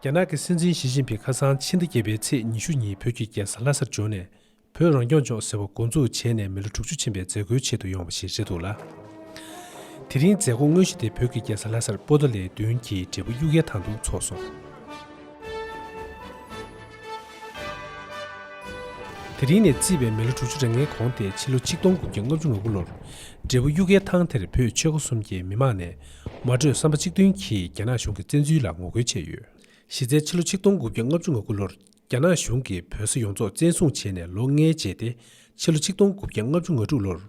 རྒྱ་ནག་གི་སྲིད་འཛིན་ཞི་ཅིན་ཕིང་ཁ་སང་ཕྱི་ཟླ་བརྒྱད་པའི་ཚེས་ཉི་ཤུ་ཉིན་བོད་ཀྱི་རྒྱལ་ས་ལྷ་སར་འབྱོར་ནས་བོད་རང་སྐྱོང་ལྗོངས་ཟེར་བ་འགོ་འཛུགས་བྱས་ནས་མི་ལོ་དྲུག་ཅུ་ཕྱིན་པའི་མཛད་སྒོའི་ཆེད་དུ་ཡོང་བ་ཞིག་རེད་འདུག་ལ། དེ་རིང་མཛད་སྒོ་དངོས་གཞི་དེ་བོད་ཀྱི་རྒྱལ་ས་ལྷ་སར་སྤོ་ད་ལེ་བདུན་གྱི་འབྲས་བུ་དབྱུག་ཡལ་ཐང་དུ་འཚོགས་སོང། དེ་རིང་ནས་བརྩིས་པའི་མི་ལོ་དྲུག་ཅུ་རེ་ལྔའི་གོང་སྟེ་ཕྱི་ལོ་ཆིག་སྟོང་དགུ་བརྒྱ་ལྔ་བཅུ་ང་དགུ་ལོར་འབྲས་བུ་གཡུ་གའི་ཐང་དེར་བོད་ཆོལ་ཁ་གསུམ་གྱི་མི་མང་ནས་མ་གྲོས་བསམ་པ་གཅིག་མཐུན་གྱིས་རྒྱ་ནག་གཞུང་གི་བཙན་འཛུལ་ལ་ངོ་རྒོལ་བྱས་ཡོད། གཞི་རྩའི་ཕྱི་ལོ་ཆིག་སྟོང་དགུ་བརྒྱ་ལྔ་བཅུ་ང་དགུ་ལོར་རྒྱ་ནག་གཞུང་གིས་བོད་ས་ཡོངས་རྫོགས་བཙན་བཟུང་བྱས་ནས་ལོ་ལྔའི་རྗེས་ཏེ་ཕྱི་ལོ་ཆིག་སྟོང་དགུ་བརྒྱ་ལྔ་བཅུ་ང་དྲུག་ལོར།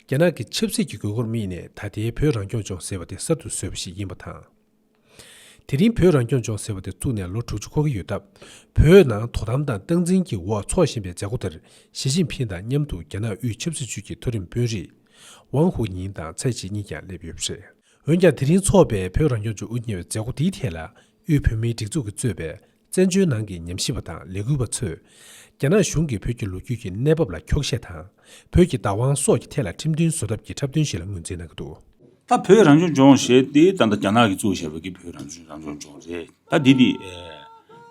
རྒྱ་ནག་གི་ཆབ་སྲིད་ཀྱི་དགོས་མཁོར་དམིགས་ནས་ད་ལྟའི་བོད་རང་སྐྱོང་ལྗོངས་ཟེར་བ་དེ་གསར་དུ་བཟོས་པ་ཞིག་ཡིན་པ་དང། དེ་རིང་བོད་རང་སྐྱོང་ལྗོངས་ཟེར་བ་དེ་བཙུགས་ནས་ལོ་དྲུག་ཅུ་འཁོར་གྱི་ཡོད་སྟབས། བོད་ནང་དོ་དམ་དང་སྟངས་འཛིན་གྱི་འོག་འཚོགས་བཞིན་པའི་མཛད་སྒོ་དེར་ཞི་ཅིན་ཕིན་དང་མཉམ་དུ་རྒྱ་ནག་དབུས་ཆབ་སྲིད་ཅུས་ཀྱི་མཐོ་རིམ་དཔོན་རིགས། ཝང་ཧུའུ་ཉིང་དང་ཚའེ་ཆི་གཉིས་ཀྱང་སླེབས་ཡོད་པ་རེད། འོན་ཀྱང་དེ་རིང་འཚོགས་པའི་བོད་རང་སྐྱོང་ལྗོངས་དབུ་བརྙེས་པའི་མཛད་སྒོ་འདིའི་ཐད་ལ་དབུས་བོད་མིའི་སྒྲིག་འཛུགས་ཀྱིས་གཙོས་པའི་བཙན་བྱོལ་ནང་གི་ཉམས་ཞིབ་པ་དང་ལས་འགུལ་བ་ཚོས། རྒྱ་ནག་གཞུང་གིས་བོད་ཀྱི་ལོ་རྒྱུས་ཀྱི་གནས་བབ་ལ་འཁྱོག་བཤད་དང། བོད་ཀྱི་བདག་དབང་སོགས་ཀྱི་ཐད་ལ་ཁྲིམས་མཐུན་བཟོ་ཐབས་ཀྱི་འཁྲབ་སྟོན་ཞིག་ལ་ངོས་འཛིན་གནང་གི་འདུག། ད་བོད་རང་སྐྱོང་ལྗོངས་ཞེས་ཏེ་ད་ལྟ་རྒྱ་ནག་གིས་གཙོ་བོ་བྱས་པའི་གི་བོད་རང་སྐྱོང་རང་སྐྱོང་ལྗོངས་རེད། ད་འདི་འདི།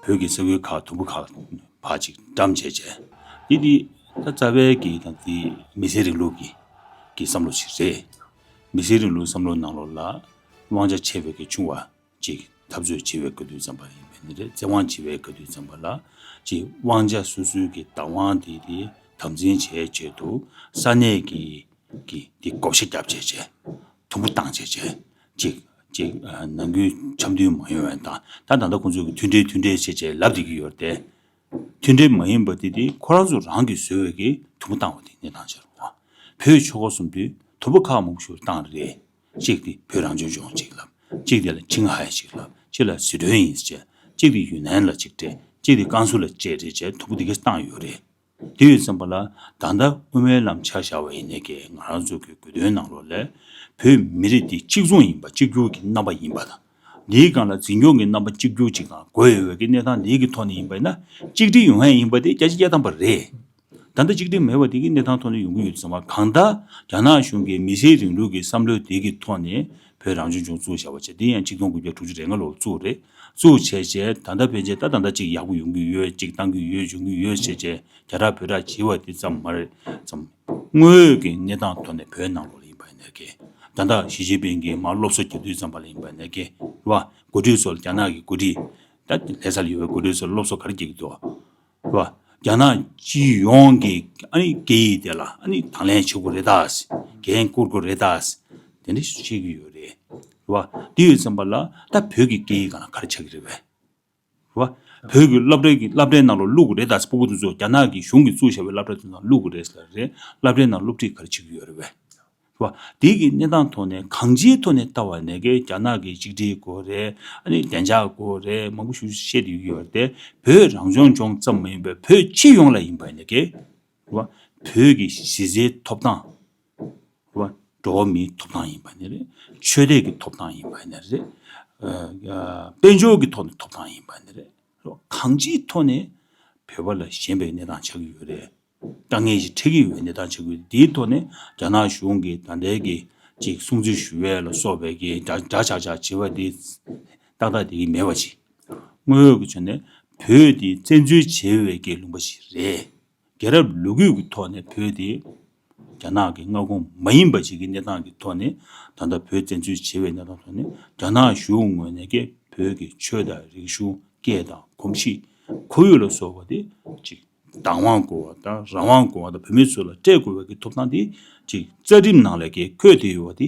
བོད་ཀྱི་ས་ཁུལ་ཁག་དུམ་བུ་ཁག་བར་གཅིག་འགྲམ་བྱས་བྱས། འདི་འདི། ད་རྩ་བའི་གི་ད་འདི་མི་སེར་རིང་ལུགས་ཀྱི་གི་བསམ་བློ་ཞིག་རེད། མི་སེར་རིང་ལུགས་བསམ་བློ་ནང་ལོགས་ལ་དབང་ཆ་ཆེ་བའི་གི་ཆུང་བ། ཅིག། འཐབ་རྩོད་བྱེད་པའི་དགའ་སྡུག་ཙམ་པ་ཡིན་པས་ནི་རེད་བཙན་དབང་བྱེད་པའི་དགའ་སྡུག་ཙམ་པ་ལ། ཅིག། དབང་ཆ་སོ་སོའི་གི་བདག་དབང་དེ་དེ་དམ་འཛིན་བྱས་བྱས་དུ། ས་གནས་ཀྱི། གི་དེ་བགོ་བཤའ་རྒྱབ་བྱས་བྱས། དུམ་བུ་བཏང་བྱས་བྱས། ཅིག། ཅིག། ནང་ཁུལ་འཆམ་མཐུན་མ་ཡོང་བའི་དང་ད་ད་ལྟ་ཁོང་ཚོས་གི་མཐུན་འབྲེལ་མཐུན་འབྲེལ་བྱས་བྱས་ལབ་བསྡད་ཀྱི་ཡོད་རེད། མཐུན་འབྲེལ་མ་ཡིན་པ་དེ་དེ་ཁོ་རང་ཚོ་རང་གི་བཟོས་བའི་གི་དུམ་བུ་བཏང་བ་དེ་གནས་སྟངས་ཆགས་རུང་བ། བོད་ཆོལ་ཁ་གསུམ་དུས་དུམ་བུ་ཁག་མང་པོ་ཞུགས་བཏང་རེད། གཅིག་དེ་བོད་རང་བྱོན་ལྗོངས་གཅིག་ལབ། གཅིག་དེ་ལ་ཆིང་ཧའེ་གཅིག་ལབ། གཅིག་ལ་ཟི་ཁྲོན་ཡིན་ཟེར། གཅིག་དེ་ཡུན་ནན་ལ་གཅིག་སྤྲད། གཅིག་དེ་ཀན་སུའུ་ལ་གཅིག་སྤྲད་བྱས་ཐུབ་པོ་དེ་གས་བཏང་ཡོད་རེད། དེ་ཡོད་བསམ་པ་ལ་ད་ལྟ་དབུ་མའི་ལམ་ཆགས་བཞག་པ་ཡིན་ནས་ཀས་ང་རང་ཚོ་གས་གོ་དོན་གནང་རོགས་ལས། བོད་མི་རིགས་འདི་གཅིག་མཚུངས་ཡིན་པ་གཅིག་གྱུར་གྱི་རྣམ་པ་ཡིན་པ་དང། འདིའི་སྒང་ལ་འཛིན་སྐྱོང་གི་རྣམ་པ་གཅིག་གྱུར་ཅིག་དང་དགོས་ཡོད་ཀྱི་གནས་སྟངས་འདི་གི་ཐོག་ནས་ཡིན་པ་ཡིན་ན་གཅིག་སྒྲིལ་ཡོང་ཡ་ཡིན་པ་དེ་སྐྱ་སྤྱི་གཡའ་དམ་པ་རེད། ད་ལྟ་གཅིག་སྒྲིལ་མེད་པ་དེ་གི་གནས་སྟངས་ཐོག་ནས་ཡོང་གི་ཡོད་ཟེར་བ་གང་ལྟར་རྒྱ་ནག་གཞུང་གི་མི་སེར་རིང་ལུགས་ཀྱི་བསམ་བློའི་དེ་གི་ཐོག་ནས་བོད་རང་སྐྱོང་ལྗོངས་བཙུགས་བྱ་བ་བྱས་དེ་ཡང་གཅིག་སྟོང་དགུ་བརྒྱ་དྲུག་ཅུ་རེ་ལྔ་ལོར་བཙུགས་རེད་བཙུགས་བྱས་བྱས་ད་ལྟ་ཕན་ཆད་ད་ད་ལྟ་ཅིག་ཡག་པོ་ཡོང་གི་ཡོད་ཅིག་བཏང་གི་ཡོད་འབྱུང་གི་ཡོད་བྱས་བྱས་རྒྱ་གྲགས་བོད་གྲགས་བྱེད་བ་དེ་ཙམ་མ་རེད་བསམ། དངོས་ཡོད་ཀྱི་གནས་སྟངས་ཐོག་ནས་བོད་ནང་ལོགས་ལ་ཡིན་པ་ནས་ཀྱི། ད་ལྟ་ཞི་ཅིན་ཕིན་གྱིས་མར་སློབ་གསོ་རྒྱག་དུས་ཙམ་པ་ལ་ཡིན་པ་ནས་ཀྱི། རེད་པ། འགོ་ཁྲིད་ཚོ་ལ་རྒྱ་ནག་གི་འགོ་ཁྲིད། ད་ལྷས་ས་ལ་ཡོད་པའི་འགོ་ཁྲིད་ཚོ་ལ་སློབ་གསོ་ག་རེ་རྒྱག་གི་འདུག། རེད་པ། རྒྱ་ནག་སྤྱི་ཡོངས་ཀྱི་ཨ་ནི་སྐད་ཡིག་དེ་ལ་ཨ་ནི་དང་ལེན་བྱེད་དགོས་རེད་དཱ། འགན་བསྐུར་དགོས་རེད་དཱ། དེ་འདྲ་ཞིག་བཤད་ཀྱི་ཡོད་རེད། རེད་པ། དེ་ཡོད་ཙམ་པ་ལ་ད་བོད་ཀྱི་སྐད་ཡིག་ག་ལ་ག་རེ་ཆགས་ཀྱི་རེད་བས། བ། བོད་ཀྱི་སློབ་གྲྭའི་སླབ་གྲྭའི་ནང་ལ་བླུག་གི་རེད་ད་ཆ་པོ་པོ་ཏུ་ཏུ་རྒྱ་ནག་གི་གཞུང་གིས་བཙུགས་བཞག་པའི་སླབ་གྲྭ་དེ་ནང་བླུག་གི་རེད་ཟེར་རེད། སླབ་གྲྭའི་ནང་སློབ་ཁྲིད་ག་རེ་བྱེད་ཀྱི་ཡོད་རེད་བས། བ། དེ་གི་གནས་སྟངས་ཐོག་ནས་གང་ཅིའི་ཐོག་ནས་ལྟ་བ་ནས་ཀྱི་རྒྱ་ནག་གི་གཅིག་སྒྲིལ་དགོས་རེད། ཨ་ནི་བདེ་འཇགས་དགོས་རེད་མང་པོ་ཞུ་བཤད་དུ་ཡོད་ཀྱི་ཡོད་རེད་དེ། བོད་རང་སྐྱོང་ལྗོངས་ཙམ་མ་ཡིན་པའི་བོད་སྤྱི་ཡོངས་ལ་ཡིན་པ་ནས་ཀྱི། བ། བོད་ཀྱི་གཞི་རྩའི་ཐོབ་ཐང། འགྲོ་བ་མིའི་ཐོབ་ཐང་ཡིན་པ་ནི་རེད། ཆོས་དད་ཀྱི་ཐོབ་ཐང་ཡིན་པ་ནི་རེད། དཔལ་འབྱོར་གྱི་ཐོག་ནས་ཐོབ་ཐང་ཡིན་པ་ནི་རེད། གང་ཅིའི་ཐོག་ནས་བོད་པ་ལ་ཞན་པའི་གནས་སྟངས་ཆགས་ཀྱི་ཡོད་རེད། དཀའ་ངལ་ཞིག་འཕྲད་ཀྱི་ཡོད་པའི་གནས་སྟངས་ཆགས་ཀྱི་ཡོད། དེའི་ཐོག་ནས་རྒྱ་ནག་གཞུང་གིས་ད་ལྟའི་གི་ཅིག་སྲུང་བརྩི་ཞུ་བའི་ལ་སོགས་པའི་གི་འདྲ་ཆགས་ཆགས་བྱེད་པ་དེ་ཏག་ཏག་དེ་གི་མེད་པ་ཅིག། དངོས་ཡོད་ཀྱི་ཆ་ནས་བོད་དེ་བཙན་འཛུལ་བྱས་པའི་གི་ལུང་པ་ཞིག་རེད། རྒྱལ་རབས་ལུ་གུ་ཀྱི་ཐོག་ནས་བོད་དེ་རྒྱ་ནག་གི་མངའ་ཁོངས་མ་ཡིན་པ་ཞིག་གི་གནས་སྟངས་ཀྱི་ཐོག་ནས་ད་ལྟ་བོད་བཙན་འཛུལ་བྱེད་པའི་གནས་སྟངས་ཐོག་ནས་རྒྱ་ནག་གཞུང་ངོས་ནས་ཀྱི་བོད་ཀྱི་ཆོས་དང་རིག་གཞུང་སྐད་དང་གོམས་གཤིས་ཁོར་ཡུག་ལ་སོགས་པ་དེ་གཅིག་བདག་དབང་དགོས་བ་དང་རང་དབང་དགོས་བ་དང་བོད་མི་ཚོ་ལ་སྤྲད་དགོས་བའི་ཀྱི་ཐོབ་ཐང་དེ་གཅིག་རྩ་ཁྲིམས་ནང་ལས་ཀྱི་འཁོད་དེ་ཡོད་བ་དེ་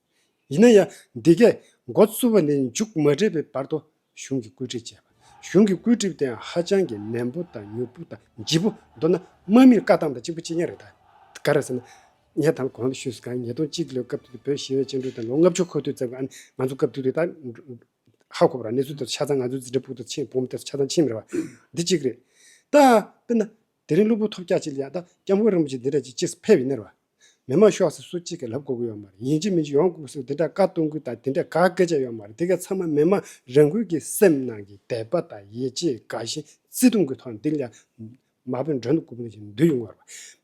ཡིན་ན་ཡང་འདི་གས་འགོ་བཙུགས་པ་ནས་མཇུག་མ་སྒྲིལ་བའི་བར་དུ་གཞུང་གི་བཀོད་སྒྲིག་བྱས་པ། གཞུང་གི་བཀོད་སྒྲིག་དེའང་ཧ་ཅང་གི་ནན་པོ་དང་མྱུར་པོ་དང་ལྗིད་པོ། མདོར་ན་དམག་མིར་བཀའ་གཏམ་དང་གཅིག་པུ་གཅིག་ཉར་རེད། ག་རེ་ཟེར་ན། ངས་དང་གོང་དུ་ཞུས་སོ་གང་ཉིས་སྟོང་གཅིག་ལོའི་སྐབས་དུས་དེར་བོད་ཞི་བས་བཅིངས་འགྲོལ་དང་ལོ་ལྔ་བཅུ་འཁོར་དུས་བརྩམས་པའང་ང་ཚོ་སྐབས་དུས་དེ་དག་ཧ་གོ་བ་རང་གནས་ཚུལ་དེར་ཆ་ཚང་ང་ཚོའི་འཛིན་གྲྭའི་ཕུག་ཏུ་ཕྱིན་བོང་བུ་དེ་ཆ་ཚང་ཕྱིན་མེད་པ་འདི་གཅིག་རེད། ད་དཔེར་ན། དེ་རིང་སློབ་བུ་ཐོབ་སྐྱ་གཅིག་ལ་ཡང་ད་སྐྱབས་མགོན་རིན་པོ་ཆེ་འདི་འདྲ་གཅིག་ཅེས་ཕེབས་ཡིན་ནི་རེད་བ། མི་དམངས་ཤོག་སེར་སུ་གཅིག་གིས་ལབ་དགོས་ཀྱི་ཡོད་མ་རེད་ཡིན་གཅིག་མིན་གཅིག་ཡོང་དགོས་སུ་དེ་འདྲ་བཀའ་གཏོང་ཁུལ་དང་དེ་འདྲ་ག་སྐད་ཆ་ཡོད་མ་རེད་དེ་ག་ཚང་མ་མི་དམངས་རང་ཁུལ་གྱི་སེམས་ནང་གི་དད་པ་དང་ཡིད་ཆེས་དགའ་ཞེན་བརྩེ་དུང་གི་ཐོག་ནས་འདི་ལ་མ་བོས་མགྲོན་དུ་སྐུ་ཕུལ་ཞིང་འདུས་ཡོང་བ་རེད་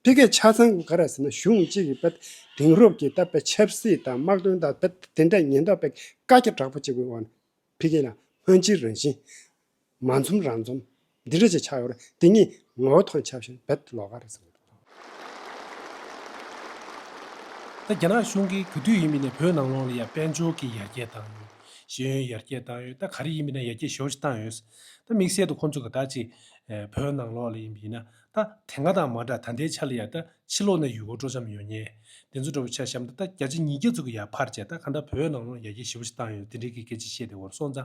དཔེ་གལ་ཆ་ཚང་ག་རེད་ཟེར་ན་གཞུང་གཅིག་གིས་དཔེ་དེང་རབས་ཀྱི་ད་དཔེ་ཆབ་སྲིད་དང་དམག་དོན་དང་དཔེ་དེ་འདྲ་ཉེན་རྟོག་པས་བཀའ་རྒྱ་དྲག་པོ་གཅིག་གི་འོག་ནས་འཕེལ་རྒྱས་ལ་སྔོན་ཅི་རང་བཞིན། མ་འཛོམས་རང་འཛོམས། འདི་འདྲ་ཅེས་བྱ་བར་དེ་ཉིད་ངོ་བོ་དང་ཆབས་ཅིག་བེད་ལོག་ག་རེ་བཟང། ད་རྒྱ་ནག་གཞུང་གིས་གུས་འདུད་ཡིན་མིན་ནས་བོད་ནང་ལོགས་ལ་ཡང་དཔལ་འབྱོར་གྱི་ཡར་རྒྱས་བཏང་ཡོད། ཤེས་ཡོན་ཡར་རྒྱས་བཏང་ཡོད་ད་ག་རེ་ཡིན་མིན་ན་ཡར་རྒྱས་ཞོར་ཞིག་བཏང་ཡོད། ད་དམིགས་བསལ་དུ་ཁོང་ཚོ་ག་དག་ཅིག་བོད་ནང་ལོགས་ལ་ཡིན་པ་ཡིན་ན། ད་དེ་སྔ་དང་མ་འདྲ་ད་ལྟའི་ཆ་ལ་ཡག་ད་ཕྱི་ལོག་ན་ཡུལ་སྐོར་སྤྲོ་འཆམ་ཡོང་ཉེ། དེ་ཚོ་འདྲ་བོ་ཆ་བཤམ་ད་ད་བརྒྱ་ཆ་ཉིས་བརྒྱ་ཚུགས་ཀྱི་ཡར་ཕར་བྱས་ད་ག་འདྲ་བོད་ནང་ལོག་ཡར་རྒྱས་ཞི་བོ་ཞིག་བཏང་ཡོད་དེ་འདྲའི་གི་སྐད་ཅིག་བཤད་དེ་འོར་སོང་ད།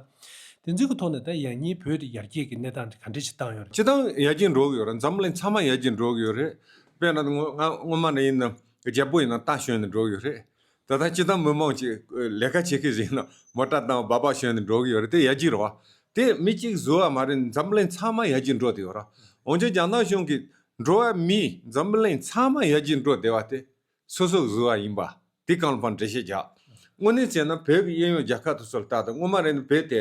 དེ་ཚོའི་གི་ཐོག་ནས་ད་ཡང་སྙིང་བོད་དེ་ཡར་རྒྱས་ཀྱི་གནས་སྟངས་དེ་ག་འདྲས་ཞིག་བཏང་ཡོད་རེད། སྤྱི་བཏང་ཡར་རྒྱས་འགྲོ་གི་ཡོད་རེད་འཛམ་གླིང་ཚང་མ་ཡར་རྒྱས་འགྲོ་གི་ཡོད་རེད། དཔེར་ན་ང་སྔོན་མ་ནས་ཡིན་ན་རྒྱལ་པོ་ཡིན་ན་ཏང་གཞོན་ནས་འགྲོ་གི་ཡོད་རེད། ད་ལྟ་སྤྱི་བཏང་མི་མང་གཅིག་ལས་ཀ་བྱེད་ཀི་རེད་ན་མོ་སྐྲ་དང་སྦ་སྦག་ཞོན་ཏེ་འགྲོ་གི་ཡོད་རེད་དེ་ཡ་གྱི་རོ། དེ་མི་གཅིག་བཟོ་བ་མ་རེད་འཛམ་གླིང་ཚང་མ་ཡ་གྱི་འགྲོ་དེ་ཡོད་རོ། འོན་ཀྱང་རྒྱ་ནག་གཞུང་གི་འགྲོ་བ་མི་འཛམ་གླིང་ཚང་མ་ཡ་གྱི་འགྲོ་དེ་བ་དེ་སོ་སོ་བཟོ་བ་ཡིན་པ་དེ་གང་ལ་ཕར་འགྲེལ་བཤད་རྒྱག། དངོས་གནས་བྱས་ན་བོད་ཀྱི་གཡས་གཡོན་རྒྱ་ཁ་ཐུ་སོ་ལ་བལྟ་དང་དངོས་མ་རེད་ན་བོད་དེ་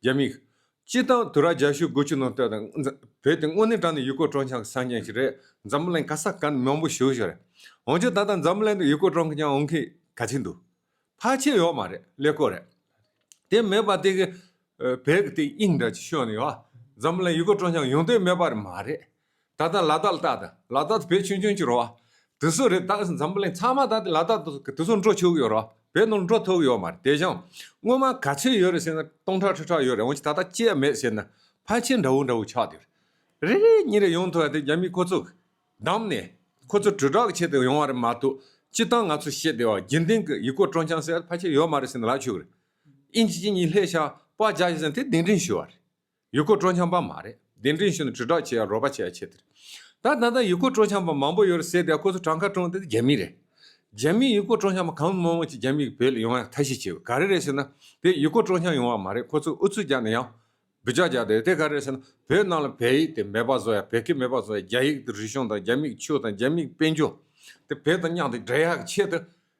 རྒྱ་མིག། སྤྱིར་བཏང་དུ་ར་རྒྱ་ཤོད་དགོས་ཆུ་ནང་བསྟོད་དང། བོད་དེ་དངོས་གནས་དྲང་ནས་ཡུལ་སྐོར་སྤྲོ་འཆམ་གྱི་ས་རྒྱན་ཞིག་རེད། འཛམ་བུ་གླིང་ཁ་ས་གང་ནས་མང་པོ་ཞུགས་ཞུགས་རེད། འོན་ཀྱང་ད་ལྟ་འཛམ་བུ་གླིང་དུ་ཡུལ་སྐོར་སྤྲོ་འཆམ་འོང་མཁན་ག་ཚད་འདུག་ཕལ་ཆེར་ཡོད་མ་རེད་ཀླད་ཀོར་རེད། དེ་མེད་པར་དེ་གི། བོད་ཀྱི་དེ་དབྱིངས་འདྲ་ཅིག་ཤོད་ནས་ཡོད། འཛམ་བུ་གླིང་ཡུལ་སྐོར་སྤྲོ་འཆམ་ཡོང་དོན་མེད་པ་རེད་མ་རེད། ད་ལྟ་ལ་དྭགས་ལྟ་དང་ལ་དྭགས་དུ་བོད་ཆུང་ཆུང་ཅིག་རོ། དེ་སུ་རེད་ད་འཛམ་བུ་གླིང་ཚང་མ་ད་ལྟ་ལ་དྭགས་དུ་དེ་སུ་འགྲོ་ཆོག་ཡོད་རོ་བོད་ནང་འགྲོ་ཐུབ་ཡོད་མ་རེད་དེ་བཞིན་སྔོན་མ་ག་ཚོད་ཡོད་རེད་ཟེར་ན་སྟོང་ཕྲག་ཁྲི་ཕྲག་ཡོད་རེད་འོན་ཀྱི་ད་ལྟ་སྐྱེས་ཡ་མེད་ཟེར་ན་ཕ་ཆེན་འདྲ་བོ་འདྲ་བོ་ཆགས་དུས་རེད་རེད་གཉིས་རེ་ཡོང་ཐུབ་ཡ་དེ་རྒྱ་མི་ཁོ་ཚོ་བདམས་ནས་ཁོ་ཚོ་དྲིལ་བསྒྲགས་བྱེད་དུ་ཡོང་བ་རེད་མ་གཏོགས་སྤྱི་སྟངས་ང་ཚོ་ཤེས་བདེ་བ་དགེ་འདུན་གྱི་ཡིག་སྐོར་སྤྲོ་འཆམ་ཟེར་ཡ་ཕ་ཆེན་ཡོད་མ་རེད་ཟེར་ན་ལག་ཆོད་རེད་ཨིན་ཇི་གཅིག་གཉིས་ལྷད་ཤ་པ་བརྒྱ་ཡོད་ཟེར་ན་དེ་གདེང་འདྲེན་ཞུ་བ་རེད། ཡུལ་སྐོར་སྤྲོ་འཆམ་པ་མ་རེད་གདན་འདྲེན་ཞུ་ན་དྲིལ་སྒྲགས་བྱེད་ཡ་རོགས་པ་བྱེད་ཡ་ཆེ་དེར། ད་ད་ད་ཡུལ་སྐོར་སྤྲོ་འཆམ་པ་མང་པོ་ཡོད་རེད་ཟེར་དེ་ཁོ་ཚོ་གྲངས་ཁ་གྲོངས་དེ་དེ་རྒྱ་མི་རེད། རྒྱ་མིའི་ཡུལ་སྐོར་སྤྲོ་འཆམ་པ་གང་མང་མང་ཅིག་རྒྱ་མིའི་བོད་ལ་ཡོང་ཡ་ཐ་ཤི་བྱེད་པ་ག་རེ་རེད་ཟེར་ན། དེ་ཡུལ་སྐོར་སྤྲོ་འཆམ་ཡོང་བ་མ་རེད་ཁོ་ཚོ་ཨུ་ཚུགས་རྒྱག་ན་ཡང། འབུད་ཆགས་རྒྱག་དེ་དེ་ག་རེ་རེད་ཟེར་ན་བོད་ནང་ལ་བལ་ཡིག་དེ་མེད་པ་བཟོ་ཡ་བལ་ཁི་མེད་པ་བཟོ་ཡ་རྒྱ་ཡིག་དེ་རིག་གཞུང་དང་རྒྱ་མིག་ཆུ་དང་རྒྱ་མིག་དཔལ་འབྱོར། དེ་བལ་དང་མཉམ་དེ་འདྲེས་ཡ་ཆེད་དུ་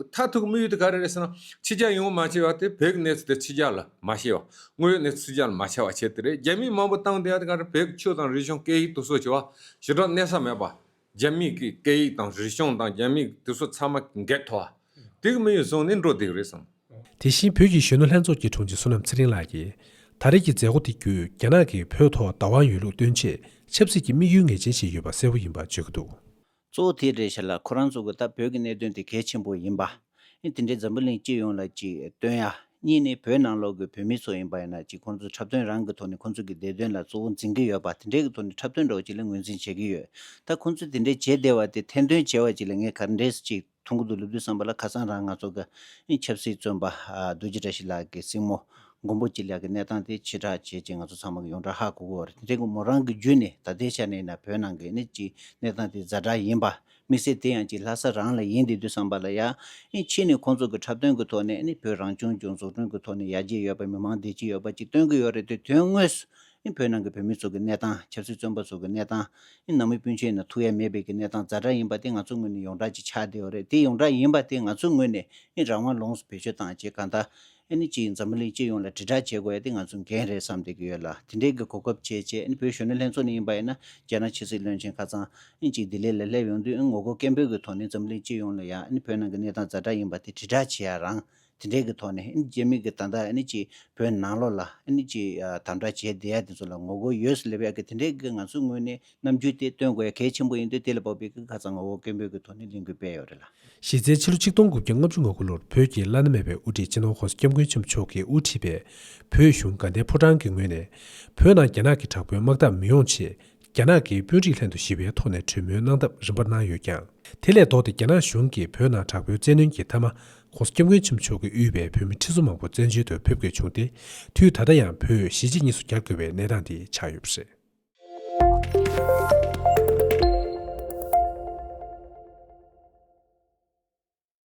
མཐར་ཐུག་དམིགས་ཡུལ་དེ་ག་རེ་རེད་ཟེར་ན། ཕྱི་རྒྱལ་ཡོང་བ་མ་བྱས་པ་དེ་བོད་ཀྱི་གནས་ཚུལ་དེ་ཕྱི་རྒྱལ་ལ་མ་བཤད་པ། དངོས་ཡོད་གནས་ཚུལ་ཕྱི་རྒྱལ་ལ་མ་ཆ་བ་བྱས་དེ་རེད། རྒྱ་མིས་མང་པོ་བཏང་སྟེ་ཨ་དེ་ག་རེ་བོད་ཀྱི་ཆོས་དང་རིག་གཞུང་སྐད་ཡིག་དུ་གསོ་བྱས་པ། ཞེ་དྲག་གནས་ས་མེད་པ། རྒྱ་མིས་ཀྱི་སྐད་ཡིག་དང་རིག་གཞུང་དང་རྒྱ་མིས་དེ་ཚོ་ཚང་མ་འགེལ་ཐོ་བ། དེ་གི་དམིགས་ཡུལ་བཟུང་ནས་འགྲོ་བསྡད་ཀྱི་རེད་བསམ། དེ་བཞིན་བོད་ཀྱི་གཞོན་ནུ་ལྷན་ཚོགས་ཀྱི་དྲུང་ཆེ་བསོད་ནམས་ཚེ་རིང་ལགས་ཀྱིས། ད་རེས་ཀྱི་མཛད་སྒོ་དེ་བརྒྱུད་རྒྱ་ནག་གིས་བོད་ཐོག་བདག་དབང་ཡོད་ལུགས་སྟོན་ཆེད་ཆབ་སྲིད་ཀྱི་དམིགས་ཡུལ་ངེས་ཅན་ཞིག་ཡོད་པ་གསལ་བོ་ཡིན་པར་བརྗོད་ཀྱི་འདུག། གཙོ་བོ་དེ་རེད་བྱས་ལ་ཁོ་རང་ཚོ་གི་ད་བོད་ཀྱི་གནད་དོན་དེ་གལ་ཆེན་པོ་ཡིན་པ། ཨེ་དེ་འདྲའི་འཛམ་བུ་གླིང་སྤྱི་ཡོངས་ལ་ཅིག་སྟོན་ཡ། གཉིས་ནི་བོད་ནང་ལོག་གི་བོད་མི་ཚོ་ཡིན་པ་ཡིན་ན་ཅིག་ཁོང་ཚོ་འཁྲབ་སྟོན་རང་གི་ཐོག་ནས་ཁོང་ཚོ་གི་བདེ་དོན་ལ་གཙོ་བོ་འཛིན་གི་ཡོད་པ་དེ་འདྲའི་གི་ཐོག་ནས་འཁྲབ་སྟོན་འགྲོ་བ་ཅིག་ལ་ངོས་འཛིན་བྱེད་གི་ཡོད། ད་ཁོང་ཚོས་དེ་འདྲའི་བྱས་བསྡད་བ་དེ་ཐེར་འདོན་བྱས་བ་ཅིག་ལ་ངས་གར་འདྲེས་ཅིག། ཐུང་གུ་དུ་ལུ་བདུད་བསམ་པ་ལ་ཁ་སང་རང་ང་ཚོ་གི་ཆབ་སྲིད་བཙོན་པ་རྡོ་རྗེ་བཀྲ་ཤིས་ལགས་ཀྱི་སྲིང་མོ་མགོན་པོ་སྐྱིད་ལགས་ཀྱི་གནས་སྟངས་དེ་ཕྱི་བསྒྲགས་བྱས་རྗེས་ང་ཚོ་ཚང་མ་གི་ཡོངས་གྲགས་ཧ་གོ་གོ་བ་རེད་དེ་མོ་རང་གི་བརྒྱུད་ནས་ད་ལྟའི་ཆ་ནས་ན་བོད་ནང་གི་ནི་གཅིག་གནས་སྟངས་དེ་ཛར་དྲག་ཡིན་པ་མི་སྲིད་དེ་ཡང་གཅིག་ལྷ་ས་རང་ལ་ཡིན་དེ་དུས་བསམ་པ་ལ་ཡང་ཕྱིས་ནས་ཁོང་ཚོ་གི་འཁྲབ་སྟོན་གི་ཐོག་ནས་ནི་བོད་རང་སྐྱོང་ལྗོངས་འཛུགས་སྐྲུན་གི་ཐོག་ནས་ཡར་རྒྱས་ཡོད་པ་མི་མང་བདེ་སྐྱིད་ཡོད་པ་གཅིག་སྟོན་གི་ཡོད་རེད་དེ་དོན་དངོས་སུ་བོད་ནང་གི་བོད་མི་ཚོ་གི་གནས་སྟངས་ཆབ་སྲིད་བཙོན་པ་ཚོ་གི་གནས་སྟངས། ནང་མི་སྤུན་མཆེད་ནང་ཐུགས་ཡ་མེད་པའི་གི་གནས་སྟངས་ཛར་ཛར་ཡིན་པ་དེ་ང་ཚོ་ངོས་ནས་ཡོངས་གྲགས་ཅིག་ཆགས་བསྡད་ཡོད་རེད་དེ་ཡོངས་གྲགས་ཡིན་པ་དེ་ང་ཚོ་ངོས་ནས་རང་དབང་ལོངས་སུ་བེད་སྤྱོད་བཏང་རྗེས་གང་དག་ཅིག་འཛམ་བུ་གླིང་སྤྱི་ཡོངས་ལ་དྲིལ་བསྒྲགས་བྱེད་དགོས་ཡ་དེ་ང་ཚོ་འགན་རེད་བསམ་བསྡད་ཀྱི་ཡོད་ལ་དེ་འབྲེལ་གི་གོ་སྐབས་བྱས་རྗེས་བོད་གཞོན་ནུ་ལྷན་ཚོགས་ནས་ཡིན་པ་ཡིན་ན་རྒྱ་ནག་ཕྱི་སྲིད་བློན་ཆེན་ཁ་ཚང་ཅིག་ལྡི་ལི་ལ་སླེབས་ཡོང་དུས་ངོ་རྒོལ་སྐད་འབོད་ཀྱི་ཐོག་ནས་འཛམ་བུ་གླིང་སྤྱི་ཡོངས་ལ་ཡ་བོད་ནང་གི་གནས་སྟངས་ཛར་ཛར་ཡིན་པ་དེ་དྲིལ་བསྒྲགས་བྱས་ཡ་རང་དེ་འདྲའི་གི་ཐོག་ནས་རྗེ་མི་གི་ད་ལྟ་གི་བོད་ནང་ལོགས་ལ་གི་དམ་དྲག་བྱས་བསྡད་ཡ་དེ་ཚོ་ལ་ངོ་རྒོལ་ཡོད་སུ་ལེ་བས་གི་དེ་འདྲའི་གི་ང་ཚོའི་ངོས་ནས་རྣམ་འགྱུར་དེ་སྟོན་དགོས་ཡ་གལ་ཆེན་པོ་ཡིན་དུས་དེ་ལ་བབ་པའི་གི་ཁ་ཚང་ངོ་བོ་སྐད་འབོད་གི་ཐོག་ནས་ལས་འགུལ་སྤེལ་ཡོད་རེད་ལ། གཞི་རྩའི་ཕྱི་ལོ་ཆིག་སྟོང་དགུ་བརྒྱ་ལྔ་བཅུ་ང་དགུ་ལོར་བོད་ཀྱི་བླ་ན་མེད་པའི་དབུ་ཁྲིད་སྤྱི་ནོར་ཧོར་སྐྱབས་མགོན་ཆེན་པོ་མཆོག་གིས་དབུ་ཁྲིད་པའི་བོད་གཞུང་དགའ་ལྡན་ཕོ་བྲང་གི་ངོས་ནས་བོད་ནང་རྒྱ་ནག་གི་དྲག་པོའི་དམག་འཐབ་མི་ཡོང་ཆེད་རྒྱ་ནག་གིས་དཔོན་རིགས་ལྷན་དུ་ཞི་བའི་ཐོག་ནས་གྲོས་མོལ་གནང་ཐབས་རིམ་པར་གནང་ཡོད་ཀྱང། དེ་ལས་ལྡོག་སྟེ་རྒྱ་ནག་གཞུང་གིས་བོད་ནང་དྲག་པོའི་བཙན་གནོན་གྱི་མཐའ་མ། ྋགོང་ས ྋསྐྱབས་མགོན་ཆེན་པོ་མཆོག་གིས་དབུས་པའི་བོད་མི་ཁྲི་ཚོ་མང་པོ་བཙན་བྱོལ་དུ་ཕེབས་དགོས་བྱུང་སྟེ། དུས་ད་ལྟ་ཡང་བོད་གཞིས་བྱེས་གཉིས་སུ་གྱར་དགོས་པའི་གནས་སྟངས་དེ་ཆགས་ཡོད་པ་རེད།